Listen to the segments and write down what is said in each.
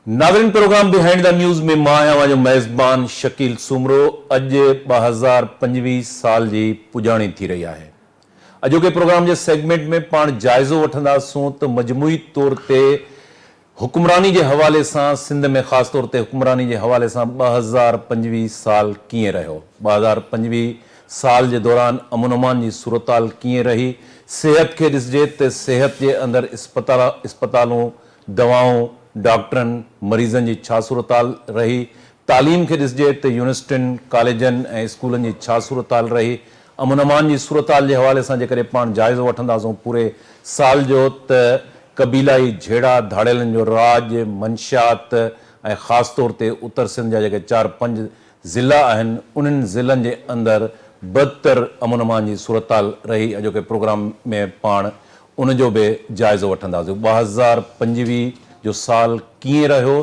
ناظرين programme behind the news ۾ مان آهيان اوهان جو ميزبان شڪيل سومرو اڄ ٻه هزار پنجويهه سال جي پڄاڻي ٿي رهي آهي اڄوڪي پروگرام جي سيگمينٽ ۾ پاڻ جائزو وٺنداسون ته مجموعي طور تي حڪمراني جي حوالي سان سنڌ ۾ خاص طور تي حڪمراني جي حوالي سان ٻه هزار پنجويهه سال ڪيئن رهيو، ٻه هزار پنجويهه سال جي دوران امن امان جي صورتحال ڪيئن رهي، صحت کي ڏسجي ته صحت جي اندر اسپتالون، دوائون، ڊاڪٽرن، مريضن جي ڇا صورتحال رهي، تعليم کي ڏسجي ته يونيورسٽين، ڪاليجن ۽ اسڪولن جي ڇا صورتحال رهي، امن امان جي صورتحال جي حوالي سان جيڪڏهن پاڻ جائزو وٺنداسون پوري سال جو ته قبيلائي جهيڙا ڌاڙيلن جو راڄ، منشيات ۽ خاص طور تي اتر سنڌ جا جيڪي چار پنج ضلعا آهن انهن ضلعن جي اندر بدتر امن امان جي صورتحال رهي اڄوڪي پروگرام ۾ پاڻ ان جو به جائزو وٺنداسون ٻه هزار پنجويهه جو سال ڪيئن رهيو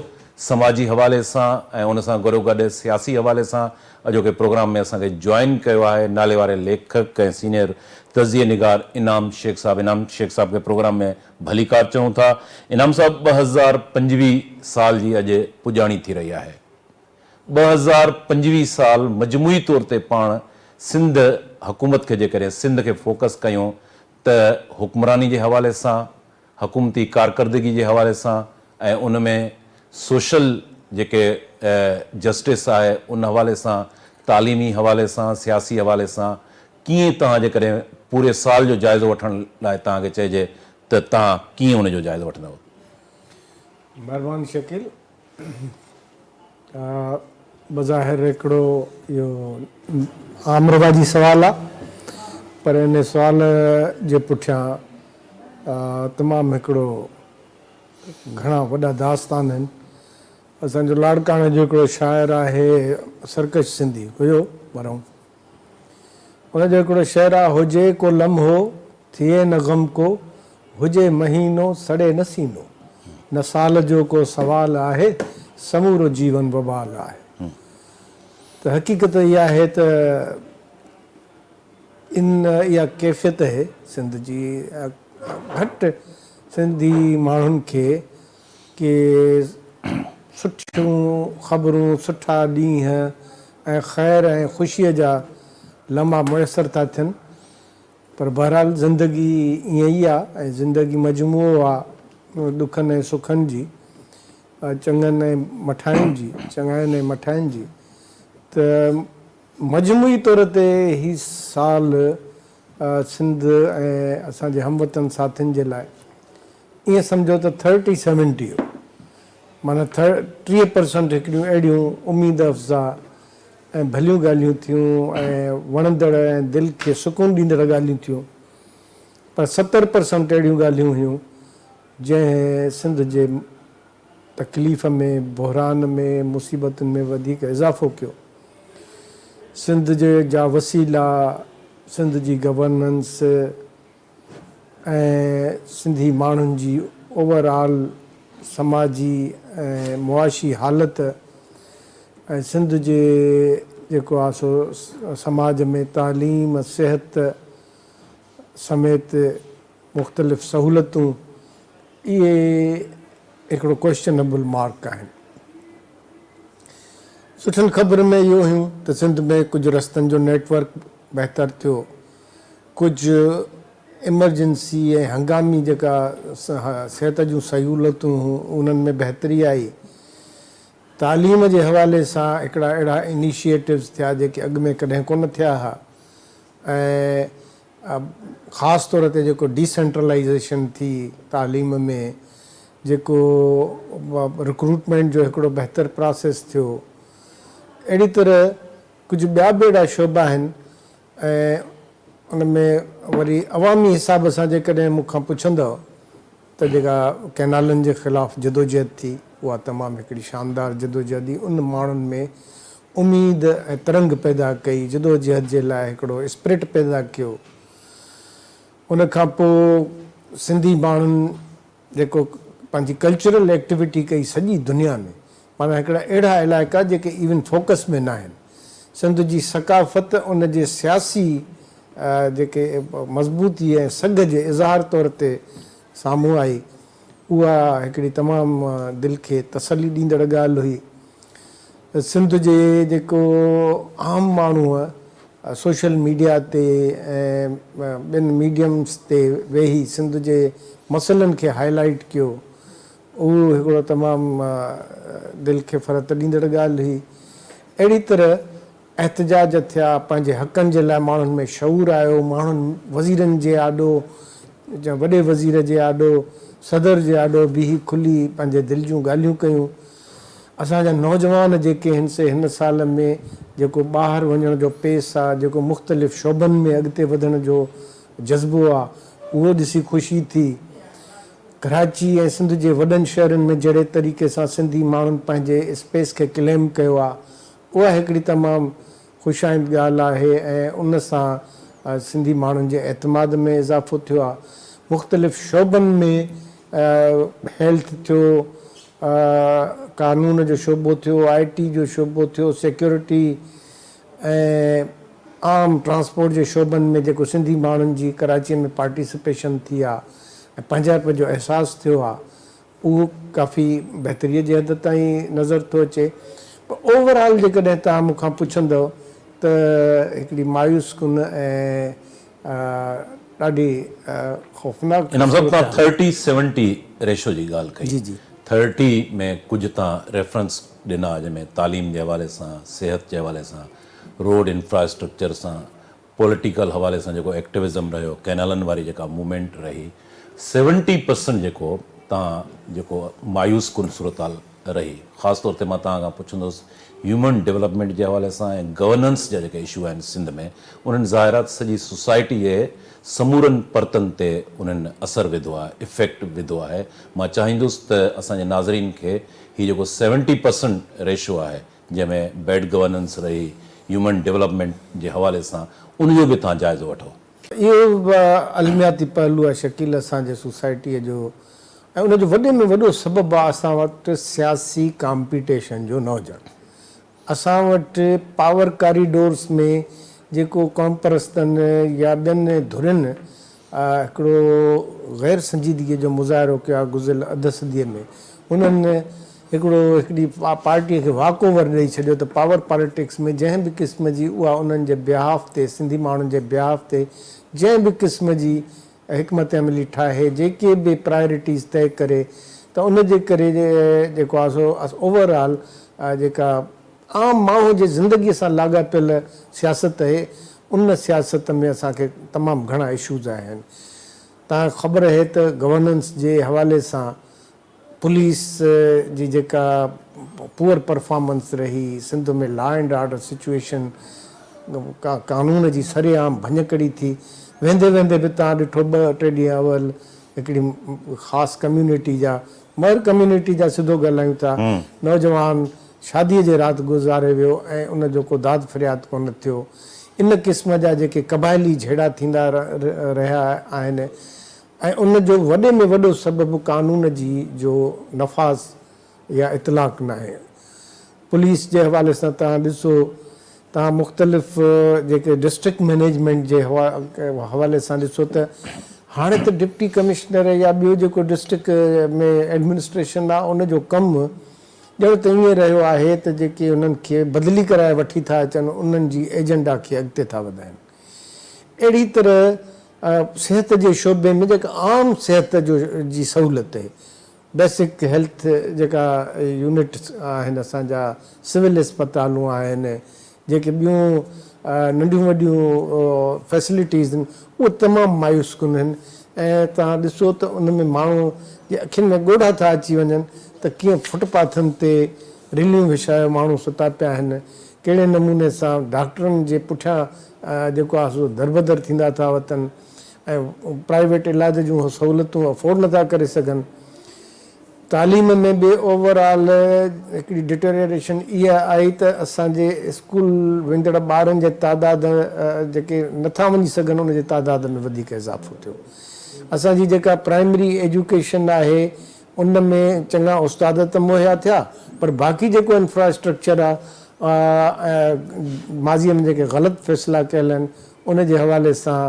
سماجي حوالي سان ۽ ان سان گڏوگڏ سياسي حوالي سان اڄوڪي پروگرام ۾ اسان کي جوائن ڪيو آهي ناليواري ليکڪ ۽ سينئر تجزيي نگار انعام شيخ صاحب انعام شيخ صاحب کي پروگرام ۾ ڀليڪار چئون ٿا انعام صاحب ٻه هزار پنجويهه سال جي اڄ پڄاڻي ٿي رهي آهي ٻه هزار پنجويهه سال مجموعي طور تي پاڻ سنڌ حڪومت کي جيڪڏهن سنڌ کي فوڪس ڪيون ته حڪمراني جي حوالي سان حڪومتي ڪارڪردگي جي حوالي سان ۽ ان ۾ سوشل جيڪي جسٽس آهي ان حوالي سان تعليمي حوالي سان سياسي حوالي سان ڪيئن توهان جيڪڏهن پوري سال جو جائزو وٺڻ لاء توهان کي چئجي ته توهان ڪيئن ان جو جائزو وٺندؤ. مهربان شڪيل بظاهر هڪڙو اهو عام رواجي سوال آ پر ان سوال جي پٺيان تمام هڪڙو گهڻا وڏا داستان آهن. اسان جو لاڙڪاڻي جو هڪڙو شاعر آهي سرڪش سنڌي هيو مرحوم ان جو هڪڙو شعر آ. هجي ڪو لمحو ٿئي نه غم ڪو، هجي مهينو سڙي نه سينو، نه سال جو ڪو سوال آهي، سمورو جيون وبال آهي. ته حقيقت اها آهي ته ان اها ڪيفيت اهي سنڌ جي گهٽ سنڌي ماڻهن کي ڪي سٺيون خبرون، سٺا ڏينهن ۽ خير ۽ خوشيء جا لمحا ميسر ٿا ٿين پر بهرحال زندگي ائين ئي آ ۽ زندگي مجموعو آ ڏکن ۽ سکن جي، چڱن ۽ مٺاين جي، چڱاين ۽ مٺاين جي ته مجموعي طور تي هي سال سنڌ ۽ اسان جي هموطن ساٿين جي لاء. ائين سمجهو ته ٿرٽي سيونٽيء معنيٰ ٽيهه پرسنٽ هڪڙيون اهڙيون اميد افزا ۽ ڀليون ڳالهيون ٿيون ۽ وڻندڙ ۽ دل کي سڪون ڏيندڙ ڳالهيون ٿيون پر ستر پرسنٽ اهڙيون ڳالهيون هيون جنهن سنڌ جي تڪليف ۾ بحران ۾ مصيبتن ۾ وڌيڪ اضافو ڪيو سنڌ جا وسيلا سنڌ جي گورننس ۽ سنڌي ماڻهن جي اوور آل سماجي ۽ معاشي حالت ۽ سنڌ جي جيڪو آ سو سماج ۾ تعليم، صحت سميت مختلف سهولتون اهي هڪڙو ڪوئسچنبل مارڪ آهن. سٺين خبرن ۾ اهو هيون ته سنڌ ۾ ڪجهه رستن جو نيٽ ورڪ بهتر ٿيو. ڪجهه ايمرجنسي ۽ هنگامي جيڪا صحت جون سهولتون هيون انهن ۾ بهتري آئي. تعليم جي حوالي سان هڪڙا اهڙا انيشيئيٽوز ٿيا جيڪي اڳ ۾ ڪڏهن ڪونه ٿيا ها ۽ خاص طور تي جيڪو ڊي سينٽرلائيزيشن ٿي تعليم ۾ جيڪو رڪروٽمينٽ جو هڪڙو بهتر پراسيس ٿيو اهڙي طرح ڪجهه ٻيا به اهڙا شعبا آهن ۽ ان ۾ وري عوامي حساب سان جيڪڏهن مون کان پڇندؤ ته جيڪا ڪئنالن جي خلاف جدوجهد ٿي اها تمام هڪڙي شاندار جدوجهد هئي ان ماڻهن ۾ اميد ۽ ترنگ پيدا ڪئي جدوجهد جي لاء هڪڙو اسپرٽ پيدا ڪيو ان کان پوء سنڌي ماڻهن جيڪو پنهنجي ڪلچرل ايڪٽيوٽي ڪئي سڄي دنيا ۾ پاڻ هڪڙا اهڙا علائقا جيڪي ايون فوڪس ۾ ناهن سنڌ جي ثقافت ان جي سياسي جيڪي مضبوطي ۽ سگهه جي اظهار طور تي سامهون آئي اها هڪڙي تمام دل کي تسلي ڏيندڙ ڳالهه هئي. سنڌ جي جيڪو عام ماڻهوء سوشل ميڊيا تي ۽ ٻين ميڊيمز تي ويهي سنڌ جي مسئلن کي هاء لائيٽ ڪيو اهو هڪڙو تمام دل کي فرحت ڏيندڙ ڳالهه هئي اهڙي طرح احتجاج ٿيا پنهنجي حقن جي لاء ماڻهن ۾ شعور آيو ماڻهن وزيرن جي آڏو وڏي وزير جي آڏو صدر جي آڏو بيهي کلي پنهنجي دل جون ڳالهيون ڪيون اسان جا نوجوان جيڪي هن سي هن سال ۾ جيڪو ٻاهر وڃڻ جو پيس آ جيڪو مختلف شعبن ۾ اڳتي وڌڻ جو جذبو آ اهو ڏسي خوشي ٿي ڪراچي ۽ سنڌ جي وڏن شهرن ۾ جهڙي طريقي سان سنڌي ماڻهن پنهنجي اسپيس کي ڪليم ڪيو آ اها هڪڙي تمام خوش آئند ڳالهه آهي ۽ ان سان سنڌي ماڻهن جي اعتماد ۾ اضافو ٿيو آهي، مختلف شعبن ۾ هيلٿ ٿيو، قانون جو شعبو ٿيو، آء ٽي جو شعبو ٿيو، سيڪيورٽي ۽ عام ٽرانسپورٽ جي شعبن ۾ جيڪو سنڌي ماڻهن جي ڪراچيء ۾ پارٽيسپيشن ٿي آهي ۽ پنهنجائپ جو احساس ٿيو آهي، اهو ڪافي بهتريء جي حد تائين نظر ٿو اچي پر اوور آل جيڪڏهن توهان مون کان پڇندؤ ته هڪڙي مايوس ڪن ۽ ڏاڍي خوفناڪ ان حضرت تان ٿرٽي سيونٽي ريشو جي ڳالهه ڪئي ٿرٽي ۾ ڪجهه تان ريفرنس ڏنا جنهن ۾ تعليم جي حوالي سان صحت جي حوالي سان روڊ انفراسٽرڪچر سان پوليٽيڪل حوالي سان جيڪو ايڪٽوزم رهيو، ڪينالن واري جيڪا موومينٽ رهي، سيونٽي پرسنٽ جيڪو تان جيڪو مايوس ڪن صورتحال رهي. خاص طور تي مان توهان کان پڇندس هيومن ڊولپمينٽ جي حوالي سان ۽ گورننس جا جيڪا اشو آهن سنڌ ۾ انهن ظاهرات سڄي سوسائٽي جي سمورن پرتن تي انهن اثر وڌو آهي، افيڪٽ وڌو آهي. مان چاهيندس ته اسان جي ناظرين کي هي جيڪو سيونٽي پرسنٽ ريشو آهي، جنهن ۾ بيڊ گورننس رهي، هيومن ڊولپمينٽ جي حوالي سان ان جو به توهان جائزو وٺو. اهو به علمياتي پهلو آهي شڪيل اسان جي سوسائٽيء جو ۽ ان جو وڏي ۾ وڏو سبب آهي اسان وٽ سياسي ڪامپيٽيشن جو نه هجڻ. اسان وٽ پاور ڪاريڊورس ۾ جيڪو قومپرستن يا ٻين ڌرين هڪڙو غير سنجيدگيء جو مظاهرو ڪيو آهي گذريل اڌ صديء ۾ انهن هڪڙو هڪڙي پارٽيء کي واڪ اوور ڏئي ڇڏيو ته پاور پاليٽڪس ۾ جنهن به قسم جي اها انهن جي بيهاف تي سنڌي ماڻهن جي بيهاف تي جنهن به قسم جي حڪمت عملي ٺاهي جيڪي به پرايورٽيز طئي ڪري ته ان جي ڪري جيڪو آهي سو اوور آل جيڪا عام ماڻهو جي زندگي سان لاڳاپيل سياست اهي ان سياست ۾ اسان کي تمام گهڻا اشوز آهن تان خبر اهي ته گورننس جي حوالي سان پوليس جي جيڪا پوئر پرفارمنس رهي Sindh ۾ law and order situation ڪا قانون جي سري عام ڀڃڪڙي ٿي ويندي ويندي به تان ڏٺو ٻه ٽي ڏينهن اول هڪڙي خاص ڪميونٽي جا مهر ڪميونٽي جا سڌو ڳالهايون ٿا نوجوان شاديء جي رات گذاري ويو ۽ ان جو ڪو داد فرياد ڪونه ٿيو. ان قسم جا جيڪي قبائلي جهيڙا ٿيندا رهيا آهن ۽ ان جو وڏي ۾ وڏو سبب قانون جي جو نفاذ يا اطلاق ناهي. پوليس جي حوالي سان توهان ڏسو ته مختلف جيڪي ڊسٽرڪٽ مئنيجمينٽ جي حوالي سان ڏسو ته هاڻي ته ڊپٽي ڪمشنر يا ٻيو جيڪو ڊسٽرڪٽ ۾ ايڊمنسٽريشن آهي ان جو ڪم ڄڻ ته ائين رهيو آهي ته جيڪي انهن کي بدلي ڪرائي وٺي ٿا اچن انهن جي ايجنڊا کي اڳتي ٿا وڌائين. اهڙي طرح صحت جي شعبي ۾ جيڪا عام صحت جو جي سهولت بيسڪ هيلٿ جيڪا يونٽس آهن اسان جا سول اسپتالون آهن جيڪي ٻيون ننڍيون وڏيون فيسلٽيز آهن اهي تمام مايوس ڪن آهن ۽ توهان ڏسو ته ان ۾ ماڻهو جي اکين ۾ ڳوڙها ٿا اچي وڃن ته ڪيئن فٽ پاٿن تي رليون وڇائي ماڻهو ستا پيا آهن ڪهڙي نموني سان ڊاڪٽرن جي پٺيان جيڪو آهي سو دربدر ٿيندا ٿا وتن ۽ پرائيويٽ علاج جون سهولتون افورڊ نٿا ڪري سگهن. تعليم ۾ به اوور آل هڪڙي ڊٽريئريشن اها آئي ته اسان جي اسڪول ويندڙ ٻارن جي تعداد جيڪي نه ٿا وڃي سگهن ان جي تعداد ۾ وڌيڪ اضافو ٿيو. اسان جي جيڪا پرائمري ايجوڪيشن آهي ان ۾ چڱا استاد ته مهيا ٿيا پر باقي جيڪو انفراسٽرڪچر آهي ۽ ماضي ۾ جيڪي غلط فيصلا ڪيل آهن ان جي حوالي سان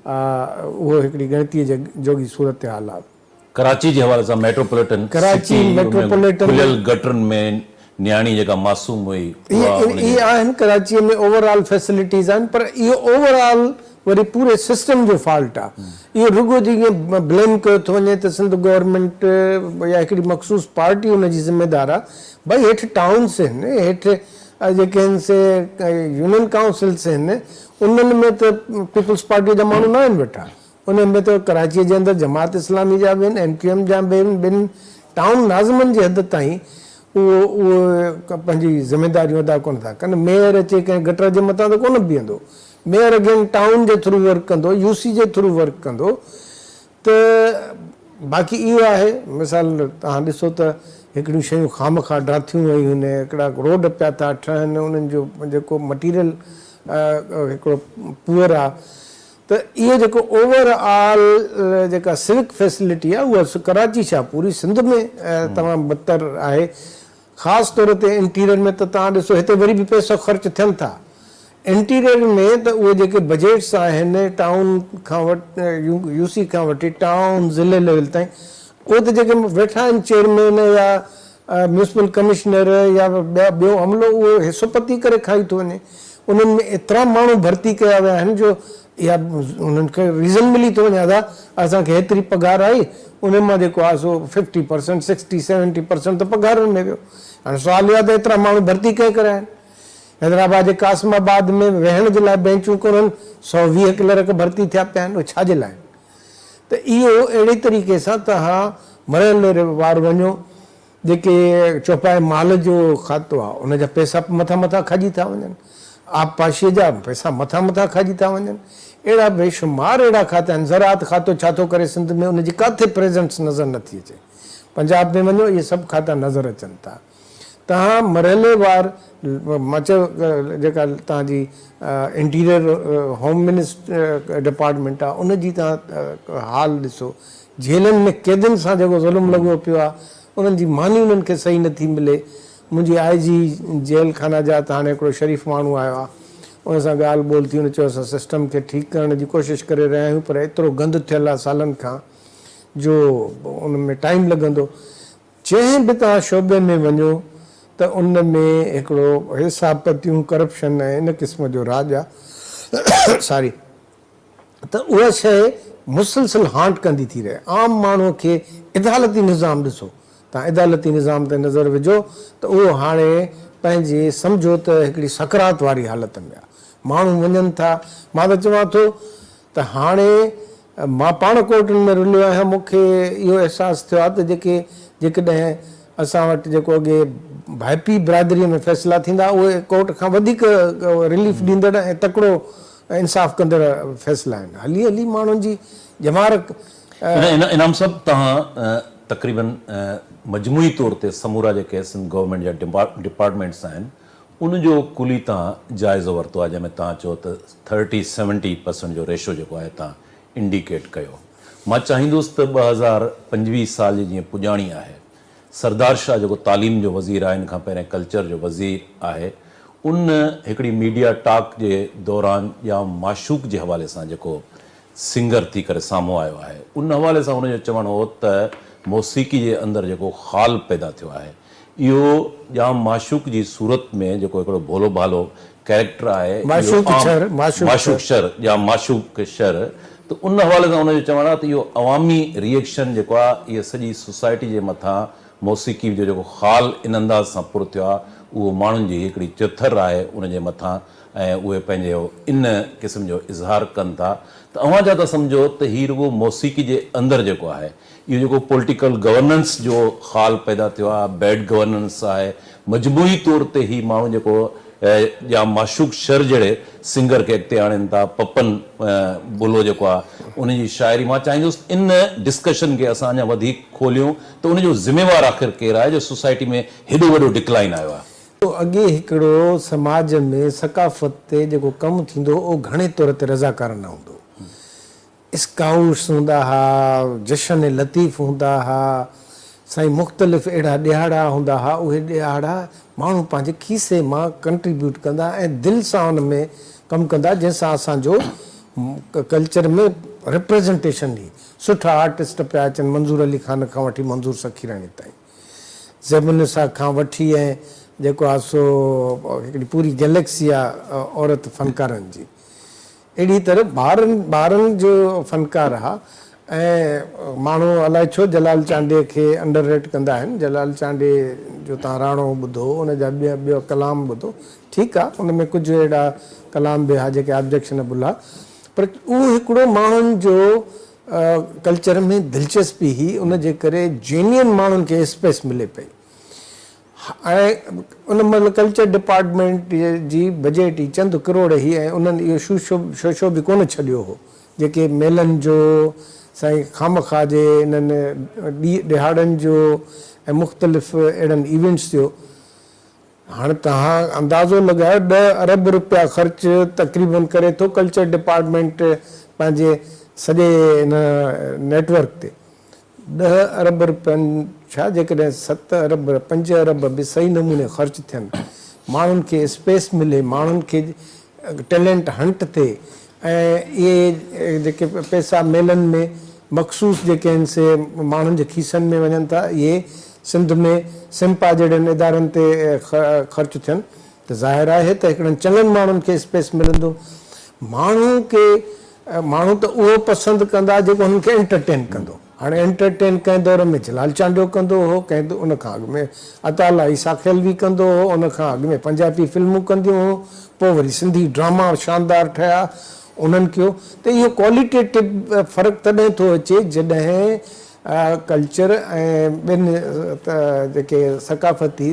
اهو هڪڙي ڳڻتي جوڳي صورتحال آهي. ڪراچي جي حوالي سان ميٽروپوليٽن سٽي ۾ کليل گٽرن ۾ نياڻي جيڪا معصوم هئي اها ان جي. اهي آهن ڪراچي ۾ اوور آل فيسلٽيز آهن پر اهو اوور آل وري پوري سسٽم جو فالٽ آ اهو رڳو جي ائين بليم ڪيو ٿو وڃي ته سنڌ گورنمينٽ يا هڪڙي مخصوص پارٽي ان جي ذميدار آ ڀائي هيٺ ٽائونس هن هيٺ جيڪي هن سي يونين ڪائونسلس هن انهن ۾ ته پيپلز پارٽي جا ماڻهو ناهن ويٺا انهن ۾ ته ڪراچيء جي اندر جماعت اسلامي جا به آهن، ايم ڪيو ايم جا به آهن، ٻن ٽائون ناظمن جي حد تائين اهو اهي پنهنجي ذميداريون ادا ڪونه ٿا ڪن. ميئر اچي ڪنهن گٽر جي مٿان ته ڪونه بيهندو. ميئر اگين ٽائون جي ٿرو ورڪ ڪندو، يو سي جي ٿرو ورڪ ڪندو ته باقي اهو آهي مثال توهان ڏسو ته هڪڙيون شيون خامخواه ڊاٿيون ويون آهن، هڪڙا روڊ پيا ٿا ٺهن، انهن جو جيڪو مٽيريل هڪڙو پوئر آهي، ته اهي جيڪو اوور آل جيڪا سوڪ فيسلٽي آهي اها ڪراچي ڇا پوري سنڌ ۾ تمام بدتر آهي خاص طور تي انٽيريئر ۾ ته توهان ڏسو هتي وري به پئسا خرچ ٿين ٿا انٽيريئر ۾ ته اهي جيڪي بجيٽس آهن ٽائون کان وٺي يو سي کان وٺي ٽائون ضلعي ليول تائين اهي ته جيڪي ويٺا آهن چيئرمين يا ميونسپل ڪمشنر يا ٻيو عملو اهو حصو پتي ڪري کائي ٿو وڃي. انهن ۾ ايترا ماڻهو ڀرتي ڪيا ويا آهن جو اها انهن کي ريزن ملي ٿو وڃي ادا اسان کي هيتري پگهار آئي انهن مان جيڪو آهي سو fifty percent sixty seventy percent ته پگهارن ۾ ويو. هاڻي سوال اهو آهي ته ايترا ماڻهو ڀرتي ڪنهن ڪريا آهن؟ حيدرآباد جي قاسم آباد ۾ ويهڻ جي لاء بينچون ڪونهن سؤ ويهه ڪلرڪ ڀرتي ٿيا پيا آهن اهي ڇا جي لاء آهن؟ ته اهو اهڙي طريقي سان توهان مريل وار وڃو جيڪي چوپائي مال جو کاتو آهي ان جا پئسا به مٿان مٿان کاڄي ٿا وڃن، آبپاشيء جا پئسا مٿان مٿان کاڄي ٿا وڃن، اهڙا بيشمار اهڙا کاتا آهن، زراعت کاتو ڇا ٿو ڪري سنڌ ۾ ان جي ڪاٿي پريزنٽس نظر نٿي اچي، پنجاب ۾ وڃو اهي سڀ کاتا نظر اچن ٿا. تهان مرحلي وار مچ جيڪا تهان جي انٽيريئر هوم منسٽري ڊپارٽمينٽ آ ان جي تهان حال ڏسو جيلن ۾ قيدين سان جيڪو ظلم لڳو پيو آ انهن جي ماني انهن کي صحيح نه ٿي ملي منهنجي آء جي جيل خانه جات هاڻي هڪڙو شريف ماڻهو آيو آ ان سان ڳالهه ٻولهه ٿي ان چيو اسان سسٽم کي ٺيڪ ڪرڻ جي ڪوشش ڪري رهيا آهيون پر ايترو گند ٿيل آ سالن کان جو ان ۾ ٽائيم لڳندو جنهن به توهان شعبي ۾ وڃو ته ان ۾ هڪڙو حساب پتيون، ڪرپشن ۽ ان قسم جو راڄ آ ساري ته اها شيء مسلسل هانٽ ڪندي ٿي رهي. عام ماڻهو کي عدالتي نظام ڏسو. توهان عدالتي نظام تي نظر وجهو ته اهو هاڻي پنهنجي سمجهو ته هڪڙي سڪرات واري حالت ۾ آ. ماڻهو وڃن ٿا، مان ته چوان ٿو ته هاڻي مان پاڻ ڪورٽن ۾ رليو آهيان، مون کي اهو احساس ٿيو آهي ته جيڪي جيڪڏهن اسان وٽ جيڪو اڳي ڀائپي برادريء ۾ فيصلا ٿيندا هئا، اهي ڪورٽ کان وڌيڪ رليف ڏيندڙ ۽ تڪڙو انصاف ڪندڙ فيصلا آهن. هلي هلي ماڻهن جي ڄمار ڪئي. انعام صاحب توهان تقريبن مجموعي طور تي سمورا جيڪي سنڌ گورنمينٽ جا ڊپارٽمينٽس آهن ان جو ڪلي تان جائزو ورتو آهي جنهن ۾ تان چئو ته ٿرٽي سيونٽي پرسنٽ جو ريشو جيڪو آهي تان انڊيڪيٽ ڪيو مان چاهيندوس ته ٻه هزار پنجويهه سال جي جيئن پڄاڻي آهي سردار شاهه جيڪو تعليم جو وزير آهي ان کان پهرين ڪلچر جو وزير آهي ان هڪڙي ميڊيا ٽاڪ جي دوران ڄام معشوق جي حوالي سان جيڪو سنگر ٿي ڪري سامهون آيو آهي ان حوالي سان هن جو چوڻ هو ته موسيقي جي اندر جيڪو خال پيدا ٿيو آهي اهو ڄام معشوق جي صورت ۾ جيڪو هڪڙو ڀولو ڀالو ڪيريڪٽر آهي اهو عام معشوق شر ڄام معشوق شر ته ان حوالي سان هن جو چوڻ آهي ته اهو عوامي ريئڪشن جيڪو آهي اهي سڄي سوسائٽي جي مٿان موسيقي جو جيڪو خال ان انداز سان پر ٿيو آهي اهو ماڻهن جي هڪڙي چٿر آهي ان جي مٿان ۽ اهي پنهنجي ان قسم جو اظهار ڪن ٿا ته اوهان ڇا ٿا سمجهو ته هي رڳو موسيقي جي اندر جيڪو آهي اهو جيڪو پولٽيڪل گورننس جو خال پيدا ٿيو آهي بيڊ گورننس آهي مجموعي طور تي هي ماڻهو جيڪو جا معشوق شر جهڙي سنگر کي اڳتي آڻين ٿا پپن بلو جيڪو آهي ان جي شاعري مان چاهيندس ان ڊسڪشن کي اسان اڃا وڌيڪ کوليون ته ان جو ذميوار آخر ڪير آهي جو سوسائٽي ۾ هيڏو وڏو ڊڪلائن آيو آهي. جو اڳي هڪڙو سماج ۾ ثقافت تي جيڪو ڪم ٿيندو هو اهو گهڻي طور تي رضاڪارانه هوندو هو. اسڪائوٽس هوندا ها، جشن لطيف هوندا ها، سائين مختلف اهڙا ڏهاڙا هوندا ها اهي ڏهاڙا ماڻهو پنهنجي کيسي مان ڪنٽريبيوٽ ڪندا ۽ دل سان ان ۾ ڪم ڪندا جنهن سان اسان جو ڪلچر ۾ رپريزنٽيشن هئي. سٺا آرٽسٽ پيا اچن منظور علي خان کان وٺي منظور سخيراڻي تائين. زيبالنساء کان وٺي ۽ جيڪو آ سو هڪڙي پوري گئليڪسي آ عورت فنڪارن جي. اهڙي طرح ٻارن ٻارن جو فنڪار آ ۽ ماڻهو الائي ڇو جلال چانڊيي کي انڊر ريٽ ڪندا آهن. جلال چانڊيي جو تان راڻو ٻڌو، ان جا ٻيا ٻيا ڪلام ٻڌو. ٺيڪ آ ان ۾ ڪجهه اهڙا ڪلام به آ جيڪي آبجيڪشنبل آ پر اهو هڪڙو ماڻهن جو ڪلچر ۾ دلچسپي هئي ان جي ڪري جينين ماڻهن کي اسپيس ملي پئي ۽ ان مهل ڪلچر ڊپارٽمينٽ جي بجيٽ ئي چند ڪروڙ هئي ۽ انهن اهو شوشو به ڪونه ڇڏيو هو جيڪي ميلن جو سائين خامخواه جي انهن ڏهاڙن جو ۽ مختلف اهڙن ايونٽس جو هاڻ توهان اندازو لڳايو ڏهه ارب رپيا خرچ تقريبن ڪري ٿو ڪلچر ڊپارٽمينٽ پنهنجي سڄي ان نيٽ ورڪ تي. ڏهه ارب رپين ڇا جيڪڏهن ست ارب پنج ارب به صحيح نموني خرچ ٿين ماڻهن کي اسپيس ملي ماڻهن کي ٽيلينٽ هنٽ ٿئي ۽ اهي جيڪي پئسا ميلن ۾ مخصوص جيڪي آهن سي ماڻهن جي کيسن ۾ وڃن ٿا اهي سنڌ ۾ سمپا جهڙن ادارن تي خرچ ٿين ته ظاهر آهي ته هڪڙن چڱن ماڻهن کي اسپيس ملندو ماڻهو کي ماڻهو ته اهو پسند ڪندا جيڪو هنن کي انٽرٽين ڪندو. هاڻي انٽرٽين ڪنهن دور ۾ جلال چانڊيو ڪندو هو، ڪنهن ان کان اڳ ۾ عطاء الله عيسيٰ خيلوي ڪندو هو، ان کان اڳ ۾ پنجابي فلمون ڪنديون هيون، پوء وري سنڌي ڊراما شاندار ٺهيا انهن ڪيو ته اهو ڪواليٽيٽو فرق تڏهن ٿو اچي جڏهن ڪلچر ۽ ٻين جيڪي ثقافتي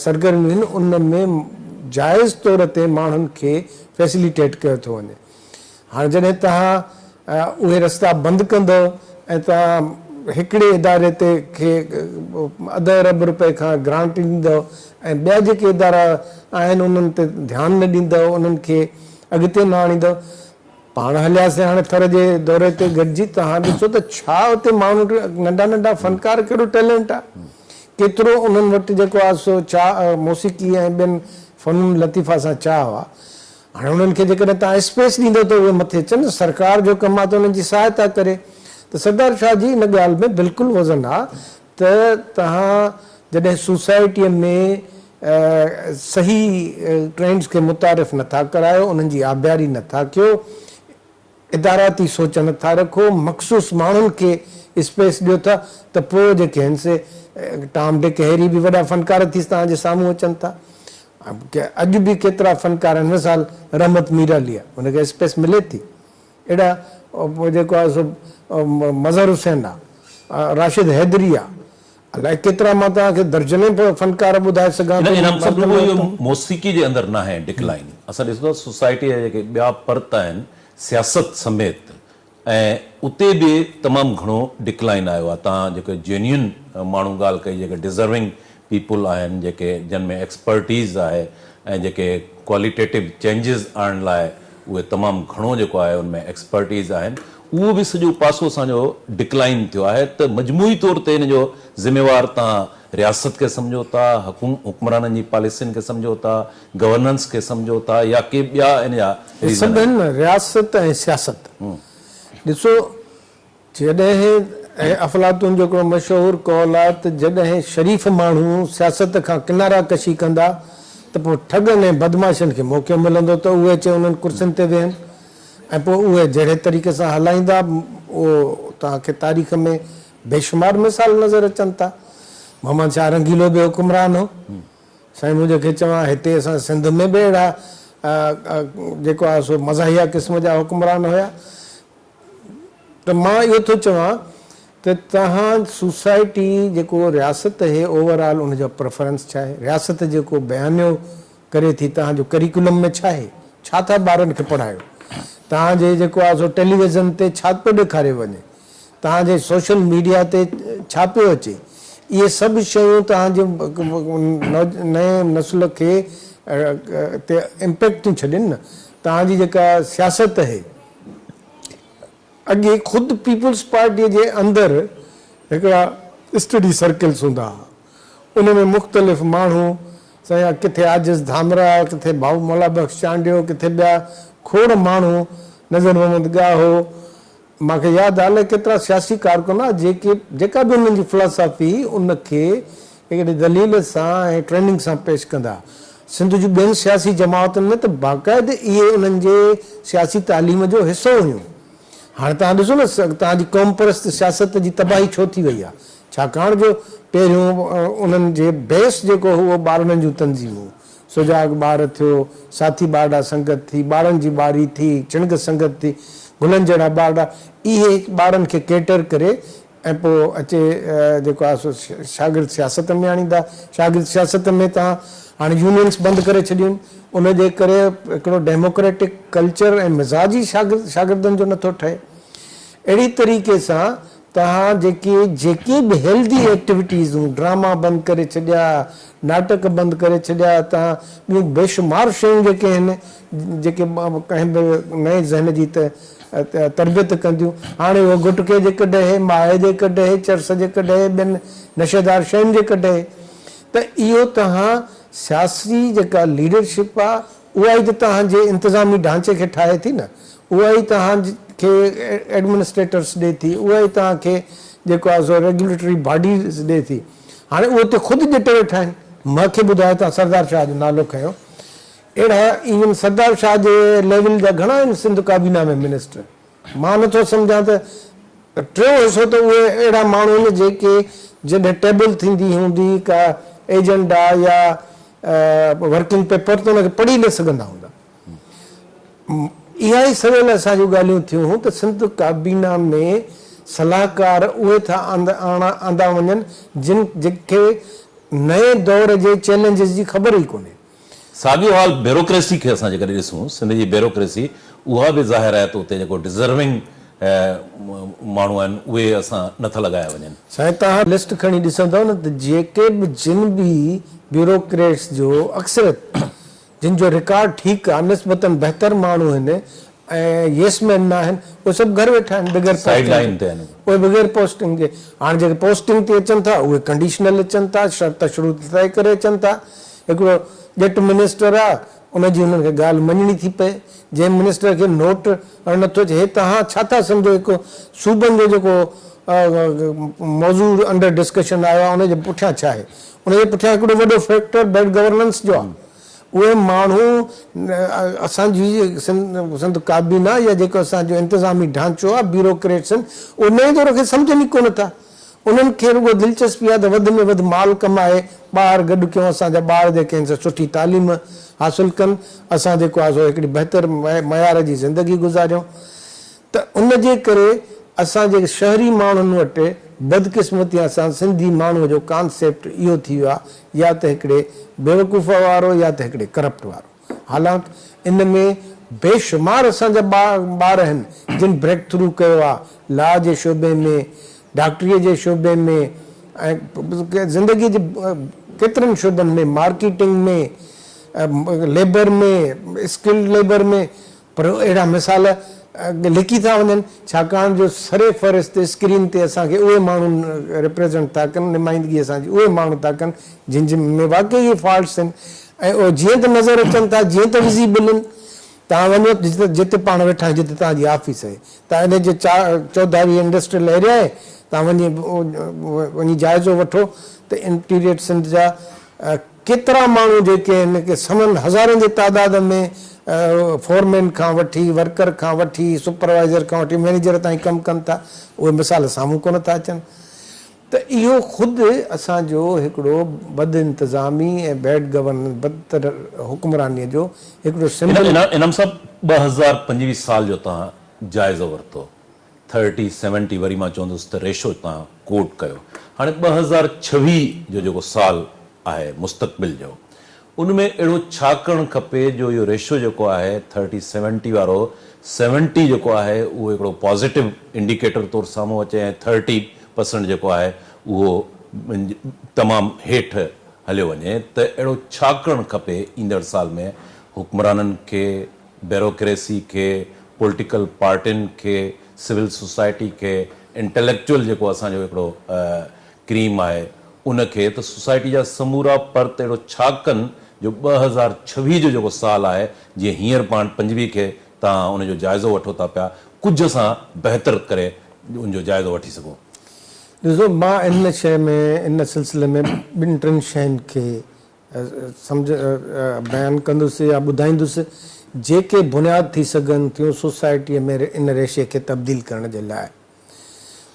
سرگرميون آهن ان ۾ جائز طور تي ماڻهن کي فيسليٽيٽ ڪيو ٿو وڃي. هاڻ جڏهن توهان اهي رستا بند ڪندؤ ۽ توهان هڪڙي اداري تي کي اڌ ارب روپئي کان گرانٽ ڏيندؤ ۽ ٻيا جيڪي ادارا آهن انهن تي ڌيان نه ڏيندؤ انهن کي اڳتي نه آڻيندؤ پاڻ هلياسين هاڻي ٿر جي دوري تي گڏجي توهان ڏسو ته ڇا اتي ماڻهو ننڍا ننڍا فنڪار ڪهڙو ٽيلنٽ آهي ڪيترو انهن وٽ جيڪو آهي سو چاهه موسيقي ۽ ٻين فنون لطيفه سان چاهه آهي هاڻي انهن کي جيڪڏهن توهان اسپيس ڏيندؤ ته اهي مٿي اچن، سرڪار جو ڪم آهي ته انهن جي سهائتا ڪري. ته سردار شاهه جي ان ڳالهه ۾ بلڪل وزن آهي ته توهان جڏهن سوسائٽيء ۾ صحيح ٽرينڊز کي متعارف نه ٿا ڪرايو، انهن جي آبياري نه ٿا ڪيو، اداراتي سوچ نه ٿا رکو، مخصوص ماڻهن کي اسپيس ڏيو ٿا ته پوء جيڪي هن سي ٽام ڊڪ هيري به وڏا فنڪار ٿي توهان جي سامهون اچن ٿا. اڄ به ڪيترا فنڪار آهن مثال رحمت ميرعلي آهي ان کي اسپيس ملي ٿي اهڙا جيڪو آهي سو مظهر حسين آهي، راشد حيدري آهي، الائي ڪيترا مان توهان کي درجنين فنڪار ٻڌائي سگهان ٿو. انعام صاحب رڳو اهو موسيقي جي اندر ناهي ڊڪلائين اسان ڏسون ٿا سوسائٽي جا جيڪي ٻيا پرت آهن سياست سميت ۽ اتي به تمام گهڻو ڊڪلائين آيو آهي تان جيڪي جينيون ماڻهو ڳالهه ڪئي جيڪي ڊزرونگ پيپل آهن جيڪي جن ۾ ايڪسپرٽيز آهي ۽ جيڪي ڪواليٽيٽو چينجز آڻڻ لاء اهي تمام گهڻو جيڪو آهي ان ۾ ايڪسپرٽيز آهن اهو به سڄو پاسو اسان جو ڊڪلائن ٿيو آهي ته مجموعي طور تي ان جو ذميوار توهان رياست کي سمجهو ٿا حڪمرانن جي پاليسين کي سمجهو ٿا گورننس کي سمجهو ٿا يا ڪي ٻيا ان جا ريزن آهن. رياست ۽ سياست ڏسو جڏهن ۽ افلاطون جو هڪڙو مشهور قول آهي ته جڏهن شريف ماڻهو سياست کان ڪنارا ڪشي ڪندا ته پوء ٺڳن ۽ بدمعاشن کي موقعو ملندو ته اهي اچي انهن ڪرسين تي ويهن ۽ پوء اهي جهڙي طريقي سان هلائيندا اهو توهان کي تاريخ ۾ بيشمار مثال نظر اچن ٿا محمد شاهه رنگيلو به حڪمران هو سائين مون جيڪي چوان هتي اسان سنڌ ۾ به اهڙا جيڪو آهي سو مزاحيه قسم جا حڪمران هيا ته مان اهو ٿو چوان ته توهان سوسائٽي جيڪو رياست اهي اوور آل ان جا پريفرنس ڇا اهي رياست جيڪو بيانيو ڪري ٿي توهان جو ڪريڪولم ۾ ڇا اهي ڇا ٿا ٻارن کي پڙهايو توهان جي جيڪو آهي سو ٽيليويزن تي ڇا پيو ڏيکاريو وڃي توهان جي سوشل ميڊيا تي ڇا پيو اچي اهي سڀ شيون توهان جي نئين نسل کي تي امپيڪٽ ٿيون ڇڏين نه توهان جي جيڪا سياست اهي. اڳي خود پيپلز پارٽيء جي اندر هڪڙا اسٽڊي سرڪلز هوندا ها. ان ۾ مختلف ماڻهو سيان ڪٿي عاجز ڌامراء، ڪٿي ڀائو مولا بخش چانڊيو، ڪٿي ٻيا کوڙ ماڻهو، نذر محمد ڳاهو، مان کي ياد آهي الائي ڪيترا سياسي ڪارڪن ها جيڪي جيڪا به انهن جي فلاسافي هئي ان کي هڪڙي دليل سان ۽ ٽريننگ سان پيش ڪندا. سنڌ جون ٻين سياسي جماعتن ۾ ته باقاعد اهي انهن جي سياسي تعليم جو حصو هيون. هاڻ توهان ڏسو نه توهان جي قومپرست سياست جي تباهي ڇو ٿي وئي آ؟ ڇاڪاڻ جو پهريون انهن جي بيس جيڪو هو اهو ٻارڙن جون تنظيمون، سجاڳ ٻار ٿيو، ساٿي ٻارڙا سنگت ٿي، ٻارڙن جي ٻاري ٿي، چڻگه سنگت ٿي، گلن جهڙا ٻارڙا اهي ٻارڙن کي ڪيٽر ڪري ۽ پوء اچي جيڪو آهي سو شاگرد سياست ۾ آڻيندا. شاگرد سياست ۾ توهان هاڻي يونينس بند ڪري ڇڏيون آهن. ان جي ڪري هڪڙو ڊيموڪريٽڪ ڪلچر ۽ مزاج ئي شاگرد شاگردن جو نٿو ٺهي. اهڙي طريقي سان توهان جيڪي جيڪي به هيلڌي ايڪٽيوٽيزون، ڊراما بند ڪري ڇڏيا، ناٽڪ بند ڪري ڇڏيا، توهان ٻيون بيشمار شيون جيڪي هن جيڪي ڪنهن به نئين ذهن جي تربيت ڪنديون. هاڻي اهو گٽڪي جي ڪڍي، مائي جي ڪڍي، چرس جي ڪڍي، ٻين نشيدار شين جي ڪڍي ته اهو توهان سياسي جيڪا ليڊرشپ آ اها ئي ته توهان جي انتظامي ڍانچي کي ٺاهي ٿي نه، اها ئي توهان کي ايڊمنسٽريٽرس ڏي ٿي، اها ئي توهان کي جيڪو آ سو ريگيوليٽري باڊيز ڏي ٿي. هاڻي اهي اتي خود ڄٽي ويٺا آهن. مون کي ٻڌايو توهان سردار شاهه جو نالو کنيو. اهڙا ايون سردار شاهه جي ليول جا گهڻا آهن سنڌ ڪابينا ۾ منسٽر. مان نه ٿو سمجهان ته ٽيون حصو ته اهي اهڙا ماڻهو آهن جيڪي جڏهن ٽيبل ٿيندي هوندي ڪا ايجنڊا يا ورڪنگ پيپر ته ان کي پڙهي نه سگهندا هوندا. اها ئي سويل اسان جون ڳالهيون ٿيون هون ته سنڌ ڪابينا ۾ صلاحڪار اهي ٿا آندا وڃن جن کي نئين دور جي چئلينجز جي خبر ئي ڪونهي. ساڳيو حال بيوروڪريسي کي اسان جيڪڏهن ڏسون سنڌ جي بيوروڪريسي اها به ظاهر آهي ته اتي جيڪو ڊزرونگ ماڻهو آهن اهي اسان نه ٿا لڳايا وڃن. سائين توهان لسٽ کڻي ڏسندؤ نه ته جيڪي به جن به بيوروڪريٽس جو اڪثريت جن جو رڪارڊ ٺيڪ آهي نسبتاً بهتر ماڻهو هن ۽ ييس مين ناهن اهي سڀ گهر ويٺا آهن بغير پوسٽنگ جي اهي بغير پوسٽنگ جي هاڻ جيڪي پوسٽنگ تي اچن ٿا اهي ڪنڊيشنل اچن ٿا شرط شروط طئي ڪري اچن ٿا هڪڙو ڄٽ منسٽر آ ان جي هنن کي ڳالهه مڃڻي ٿي پئي جنهن منسٽر کي نوٽ هڻڻ نٿو اچي هي توهان ڇا ٿا سمجهو هڪ صوبن جو جيڪو موضوع انڊر ڊسڪشن آيو آ ان جي پٺيان ڇا آهي ان جي پٺيان هڪڙو وڏو فيڪٽر بيڊ گورننس جو آ اهي ماڻهو اسان جي سنڌ ڪابينا يا جيڪو اسان جو انتظامي ڍانچو آهي بيوروڪريٽس آهن انهي دور کي سمجهن ئي ڪونه ٿا انهن کي رڳو دلچسپي آهي ته وڌ ۾ وڌ مال ڪمائي ٻاهر گڏ ڪيون اسان جا ٻار جيڪي آهن سا سٺي تعليم حاصل ڪن اسان جيڪو آهي سو هڪڙي بهتر معيار جي زندگي گذاريون ته ان جي ڪري اسان جي شهري ماڻهن وٽ بدقسمتيان سان سنڌي ماڻهوء جو ڪانسيپٽ اهو ٿي ويو آهي يا ته هڪڙي بيوقوف وارو يا ته هڪڙي ڪرپٽ وارو حالانڪ ان ۾ بيشمار اسان جا ٻار آهن جن بريڪ ٿرو ڪيو آهي لا جي شعبي ۾ ڊاڪٽريء جي شعبي ۾ ۽ زندگيء جي ڪيترن شعبن ۾ مارڪيٽنگ ۾ ليبر ۾ اسڪلڊ ليبر ۾ پر اهڙا مثال لڪي ٿا وڃن، ڇاڪاڻ جو سر فهرست اسڪرين تي اسان کي اهي ماڻهو ريپريزنٽ ٿا ڪن، نمائندگي اسان جي اهي ماڻهو ٿا ڪن، جن جي ۾ واقعي اهي فالٽس آهن ۽ اهي جيئن ته نظر اچن ٿا، جيئن ته وزيبل آهن. توهان وڃو جتي جتي پاڻ ويٺا آهيون، جتي توهان جي آفيس آهي، توهان ان جي چا چوڌاري انڊسٽريل ايريا آهي، توهان وڃي وڃي جائزو وٺو ته انٽيريئر سنڌ جا ڪيترا ماڻهو جيڪي هن کي سوين هزارن جي تعداد ۾ فورمين کان وٺي ورڪر کان وٺي سپروائيزر کان وٺي مئنيجر تائين ڪم ڪن ٿا اهي مثال سامهون ڪونه ٿا اچن ته اهو خود اسان جو هڪڙو بد انتظامي ۽ بيڊ گورننس بدتر حڪمراني جو هڪڙو سمبل. انعام صاحب ٻه هزار پنجويهه سال جو توهان جائزو ورتو ٿرٽي سيونٽي وري مان چوندس ته ريشو تان ڪوٽ ڪيو هاڻي ٻه هزار ڇويهه جو جيڪو سال آهي مستقبل جو ان ۾ اهڙو ڇا ڪرڻ کپي جو اهو ريشو جيڪو آهي ٿرٽي سيونٽي وارو سيونٽي جيڪو آهي اهو هڪڙو پازيٽو انڊيڪيٽر طور سامهون اچي ۽ ٿرٽي پرسنٽ جيڪو آهي اهو تمام هيٺ هليو وڃي ته اهڙو ڇا ڪرڻ کپي ايندڙ سال ۾ حڪمرانن کي بيروڪريسي کي، پولٽيڪل پارٽين کي، سول سوسائٽي کي، انٽيليڪچوئل جيڪو اسان جو هڪڙو ڪريم آهي ان کي ته سوسائٽي جا سمورا پرت اهڙو ڇا ڪن جو ٻه هزار ڇويهه جو جيڪو سال آهي جيئن هينئر پاڻ پنجويهه کي تان ان جو جائزو وٺو ٿا پيا ڪجهه اسان بهتر ڪري ان جو جائزو وٺي سگهون. ڏسو مان ان شيء ۾ ان سلسلي ۾ ٻن ٽن شين کي سمجهه بيان ڪندس يا ٻڌائيندس جيڪي بنياد ٿي سگهن ٿيون سوسائٽيء ۾ ان ريشي کي تبديل ڪرڻ جي لاء.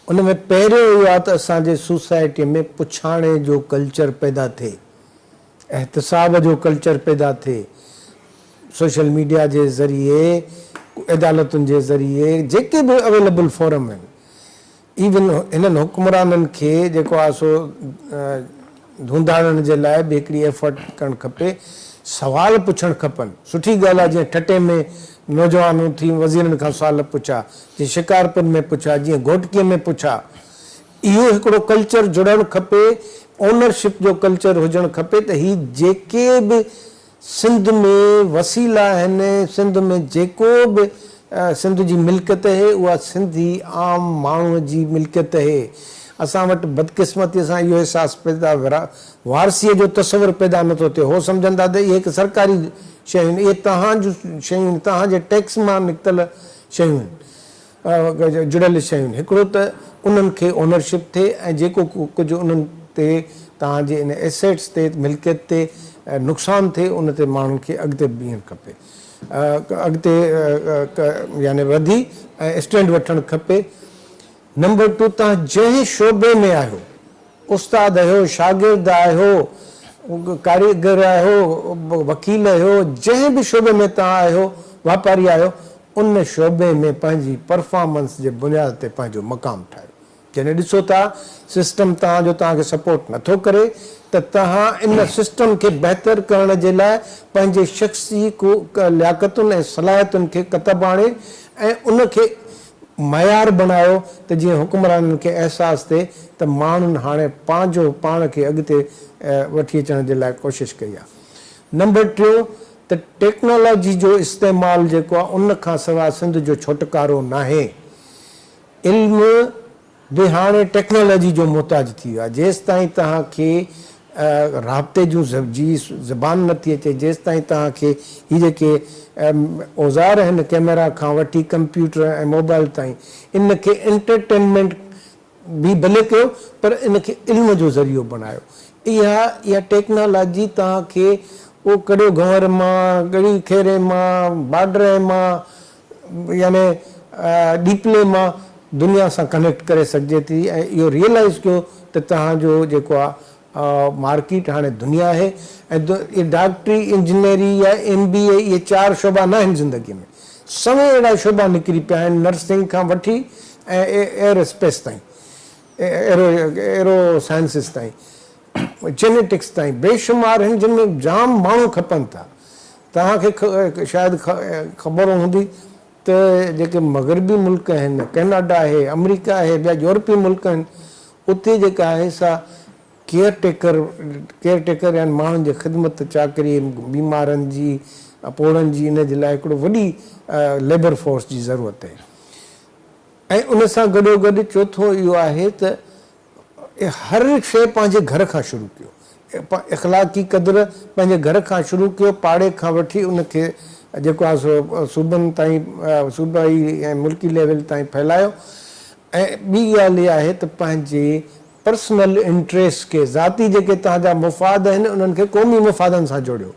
ان ۾ پهريون اهو آ ته اسان جي سوسائٽيء ۾ پڇاڻي جو ڪلچر پيدا ٿئي، احتساب جو ڪلچر پيدا ٿئي، سوشل ميڊيا جي ذريعي، عدالتن جي ذريعي جيڪي به اويليبل فورم آهن ايون هنن حڪمرانن کي جيڪو آهي سو ڌونڌاڙڻ جي لاء به هڪڙي ايفرٽ ڪرڻ کپي، سوال پڇڻ کپن، سٺي ڳالهه آهي جيئن ٺٽي ۾ نوجوان اٿي وزيرن کان سوال پڇا، جيئن شڪارپور ۾ پڇا، جيئن گهوٽڪي ۾ پڇا، اهو هڪڙو ڪلچر جڙڻ کپي، اونرشپ جو ڪلچر هجڻ کپي ته هي جيڪي به سنڌ ۾ وسيل آهن، سنڌ ۾ جيڪو به سنڌ جي ملڪيت اهي اها سنڌي عام ماڻهو جي ملڪيت اهي، اسان وٽ بدقسمتي سان اهو احساس پيدا وارثي جو تصور پيدا نه ٿو ٿئي، هو سمجهن ٿا ته اهي هڪ سرڪاري شيون اهي تهان جون شيون تهان جي ٽيڪس مان نڪتل شيون آهن. جڙيل شيون هڪڙو ته انهن کي اونرشپ ٿئي ۽ جيڪو ڪجهه انهن تي توهان جي ان ايسيٽس تي ملڪيت تي نقصان ٿئي ان تي ماڻهن کي اڳتي بيهڻ کپي اڳتي يعني وڌي ۽ اسٽينڊ وٺڻ کپي نمبر ٽو توهان جنهن شعبي ۾ آهيو استاد اهو، شاگرد اهو، ڪاريگر اهو، وڪيل اهو، جنهن به شعبي ۾ توهان اهو، واپاري اهو، ان شعبي ۾ پنهنجي پرفارمنس جي بنياد تي پنهنجو مقام ٺاهيو. جڏهن ڏسو ٿا سسٽم توهان جو توهان کي سپورٽ نٿو ڪري ته توهان ان سسٽم کي بهتر ڪرڻ جي لاء پنهنجي شخصي لياقتن ۽ صلاحيتن کي ڪتب آڻي ۽ ان کي معيار بڻايو ته جيئن حڪمرانن کي احساس ٿئي ته ماڻهن هاڻي پنهنجو پاڻ کي اڳتي وٺي اچڻ جي لاء ڪوشش ڪئي آهي. نمبر ٽيون ته ٽيڪنالاجي جو استعمال جيڪو آهي ان کان سواء سنڌ جو ڇوٽڪارو ناهي. علم، به هاڻي ٽيڪنالاجي جو محتاج ٿي ويو آهي، جيستائين توهان کي رابطي جون جي زبان نٿي اچي، جيستائين توهان کي هي جيڪي اوزار آهن ڪيميرا کان وٺي ڪمپيوٽر ۽ موبائل تائين ان کي انٽرٽينمينٽ به ڀلي ڪيو پر ان کي علم جو ذريعو بڻايو اها اها ٽيڪنالاجي توهان کي اهو ڪڙيو گهنور مان ڳڙي کيري مان باڊري مان يعني ڏيپلي مان دنيا سان ڪنيڪٽ ڪري سگهجي ٿي ۽ اهو ريئلائز ڪيو ته توهان جو جيڪو آ مارڪيٽ هاڻي دنيا آهي ۽ ڊاڪٽري انجنيئري يا ايم بي اي اهي چار شعبا نه آهن زندگي ۾ سوين اهڙا شعبا نڪري پيا آهن نرسنگ کان وٺي ايئر اسپيس تائين ايرو ايرو سائنسز تائين جينيٽڪس تائين بيشمار آهن جن ۾ جام ماڻهو کپن ٿا. توهان کي شايد خبر هوندي ته جيڪي مغربي ملڪ آهن ڪئناڊا آهي آمريڪا آهي ٻيا يورپي ملڪ آهن اتي جيڪا آهي سا ڪيئر ٽيڪر ڪيئر ٽيڪر يعني ماڻهن جي خدمت چاڪري بيمارن جي پوڙهن جي ان جي لاء هڪڙو وڏي ليبر فورس جي ضرورت آهي ۽ ان سان گڏو گڏ چوٿون اهو آهي ته هر هڪ شيء پنهنجي گهر کان شروع ڪيو. اخلاقي قدر پنهنجي گهر کان شروع ڪيو، پاڙي کان وٺي ان کي جيڪو آهي سو صوبن تائين، صوبائي ۽ ملڪي ليول تائين ڦهلايو ۽ ٻي ڳالهه اها آهي ته پنهنجي پرسنل انٽريسٽ کي، ذاتي جيڪي توهان جا مفاد آهن انهن کي قومي مفادن سان جوڙيو.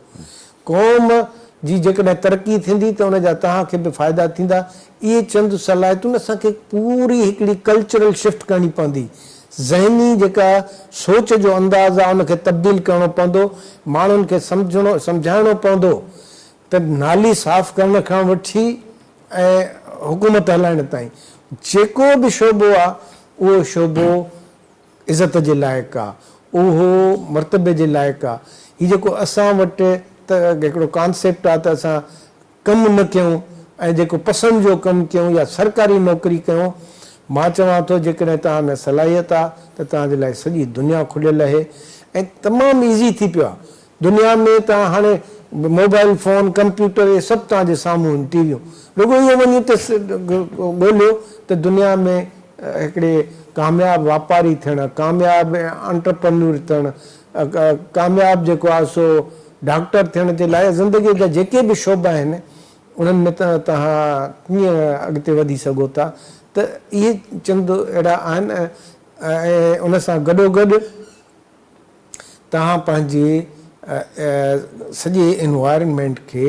قوم جي جيڪڏهن ترقي ٿيندي ته ان جا توهان کي به فائدا ٿيندا. اهي چند صلاحيتون اسان کي پوري هڪڙي ڪلچرل شفٽ ڪرڻي پوندي. ذهني جيڪا سوچ جو انداز آهي ان کي تبديل ڪرڻو پوندو. ماڻهن کي سمجهڻو سمجهائڻو پوندو ته نالي صاف ڪرڻ کان وٺي ۽ حڪومت هلائڻ تائين جيڪو به شعبو آهي اهو شعبو عزت جي لائق آ، اهو مرتبي جي لائق آ، هي جيڪو اسان وٽ ته هڪڙو ڪانسيپٽ آ ته اسان ڪم نه ڪيون ۽ جيڪو پسند جو ڪم ڪيون يا سرڪاري نوڪري ڪيون، مان چوان ٿو جيڪڏهن توهان ۾ صلاحيت آ ته توهان جي لاء سڄي دنيا کليل اهي ۽ تمام ايزي ٿي پيو آ دنيا ۾ ته هاڻي موبائل فون، ڪمپيوٽر اهي سڀ توهان جي سامهون آهن، ٽي ويون. رڳو اهو وڃي ته ڳوليو ته دنيا ۾ هڪڙي ڪامياب واپاري ٿيڻ، ڪامياب انٽرپرنور ٿيڻ، ڪامياب جيڪو آهي سو ڊاڪٽر ٿيڻ جي لاء زندگيء جا جيڪي به شعبا آهن، انهن ۾ توهان ڪيئن اڳتي وڌي سگهو ٿا ته اهي چند اهڙا آهن ۽ ان سان گڏوگڏ، توهان پنهنجي سڄي انوائرنمينٽ کي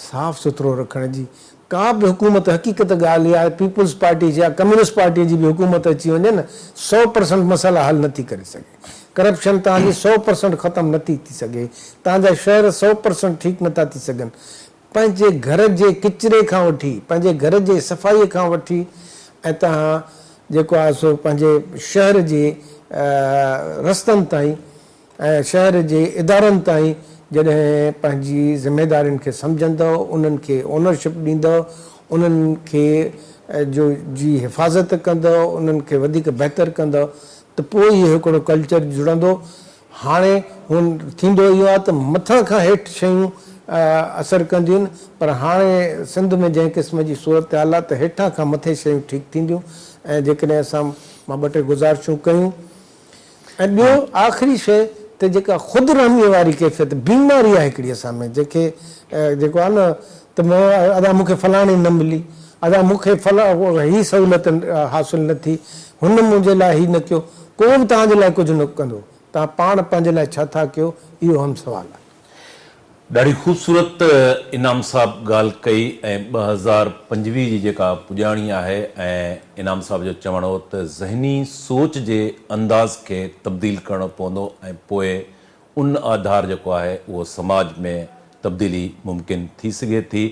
صاف سٿرو رکڻ جي ڪا به حڪومت حقيقت ڳالهه اها آهي پيپلز پارٽي جي يا ڪميونسٽ پارٽي جي به حڪومت اچي وڃي نه سؤ پرسنٽ مسئلا حل نه ٿي ڪري سگهي ڪرپشن توهان جي سؤ پرسنٽ ختم نه ٿي ٿي سگهي توهان جا شهر سؤ پرسنٽ ٺيڪ نه ٿا ٿي سگهن پنهنجي گهر جي ڪچري کان وٺي پنهنجي گهر جي صفائي کان وٺي ۽ توهان جيڪو آهي سو پنهنجي شهر جي رستن تائين ۽ شهر جي ادارن تائين جڏهن پنهنجي ذميدارين کي سمجهندؤ انهن کي اونرشپ ڏيندؤ انهن کي جو جي حفاظت ڪندؤ انهن کي وڌيڪ بهتر ڪندؤ ته پوء ئي هڪڙو ڪلچر جڙندو هاڻي هن ٿيندو اهو آهي ته مٿان کان هيٺ شيون اثر ڪنديون پر هاڻي سنڌ ۾ جنهن قسم جي صورتحال آهي ته هيٺان کان مٿي شيون ٺيڪ ٿينديون ۽ جيڪڏهن اسان مان ٻه ٽي گذارشون ڪيون ۽ ٻيو آخري شيء ته جيڪا خود رحميء واري ڪيفيت بيماري آهي هڪڙي اسان ۾ جنهن کي جيڪو آهي نه ته مون ادا مون کي فلاڻي نه ملي، ادا مون کي فلاڻي هي سهولت حاصل نه ٿي، هن منهنجي لاء هي نه ڪيو، ڪو به توهان جي لاء ڪجهه نه ڪندو، توهان پاڻ پنهنجي لاء ڇا ٿا ڪيو، اهو اهم سوال آهي. ڏاڍي خوبصورت انعام صاحب ڳالهه ڪئي ۽ ٻه هزار پنجويهه جي جيڪا پڄاڻي آهي ۽ انعام صاحب جو چوڻ هو ته ذهني سوچ جي انداز کي تبديل ڪرڻو پوندو ۽ پوء ان آڌار جيڪو آهي اهو سماج ۾ تبديلي ممڪن ٿي سگهي ٿي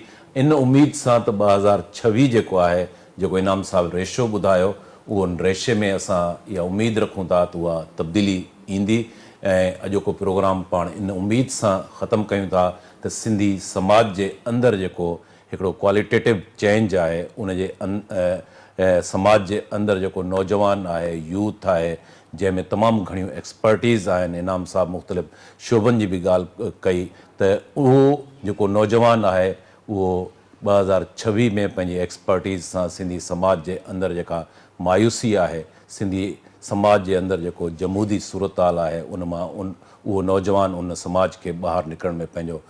ان اميد سان ته ٻه هزار ڇويهه جيڪو آهي جيڪو انعام صاحب ريشو ٻڌايو اهو ان ريشي ۾ اسان اها اميد رکون ٿا ته اها تبديلي ايندي ۽ اڄوڪو پروگرام پاڻ ان اميد سان ختم ڪيون ٿا ته سنڌي سماج جي اندر جيڪو هڪڙو ڪواليٽيٽو چينج آهي ان جي سماج جي اندر جيڪو نوجوان آهي يوٿ آهي جنهن ۾ تمام گهڻيون ايڪسپرٽيز آهن، انعام صاحب مختلف شعبن جي به ڳالهه ڪئي ته اهو جيڪو نوجوان آهي اهو ٻه هزار ڇويهه ۾ پنهنجي ايڪسپرٽيز سان سنڌي سماج جي اندر جيڪا مايوسي آهي، سنڌي سماج جي اندر جيڪو جمودي صورتحال آهي ان مان اهو نوجوان ان سماج کي ٻاهر نڪرڻ ۾ پنهنجو